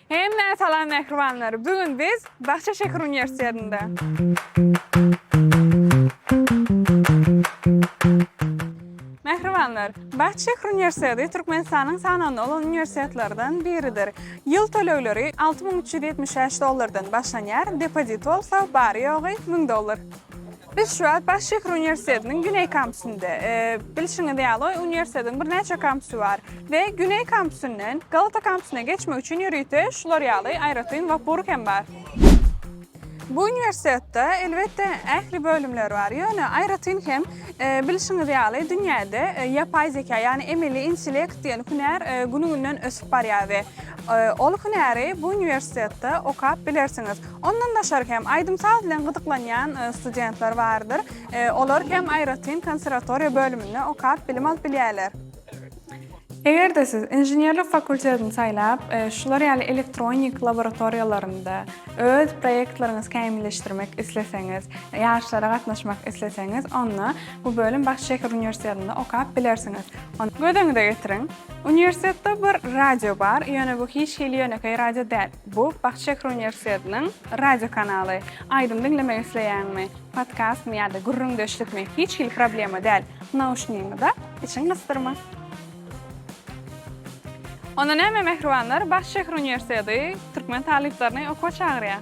Hemmäňe salam mähribanlar. Bu gün biz Bakja şäher uniwersitetinde. Mähribanlar, Bakja şäher uniwersiteti Türkmenistanyň sanawynda bolan uniwersitetlerden biridir. Ýyl tölegleri alty müň üç ýüz ýetmiş bäş dollardan başlanýar, depozit bolsa bary-ýogy müň dollar. Biz şu wagt baş şäher uniwersitetiniň güneý kampusynda. Bilşiňiz ýaly, uniwersitetiň birnäçe kampusy bar we güneý kampusyndan Galata kampusuna geçmek üçin ýörite şular ýaly aýratyn wapur hem bar. Bu uniwersitetde, elbetde, ähli bölümler bar, ýöne aýratyn hem, bilşiňiz ýaly, dünýäde ýapaý zeka, ýagny emeli intellekt diýen hünär günügünden ösüp barýar we ol hünäri bu uniwersitetde okap bilersiňiz. Ondan daşary hem, aýdym-saz bilen gyzyklanýan studentler bardyr. Olar hem aýratyn konserwatoriýa bölüminde okap, bilim alyp bilýärler. Eger-de siz inženerlik fakultetini saýlap, şular ýaly elektronik laboratoriýalarynda öz proýektleriňizi kämilleşdirmek isleseňiz, ýaryşlara gatnaşmak isleseňiz, onda bu bölüm Baş şäher uniwersitetinde okap bilersiňiz. Göz öňüne getiriň, uniwersitetde bir radio bar, ýöne bu hiç hili ýönekeý radio däl. Bu Bagt şäheri uniwersitetiniň radio kanaly. Aýdym diňlemek isleýäňmi? Podkastmy ýa-da gürrüňdeşlikmi? Hiç hili problema däl. Nauşnigiňi dak, içiň gysdyrma. Onda näme mähribanlar, Bagt şäheri uniwersiteti türkmen talyplaryny okuwa çagyrýar.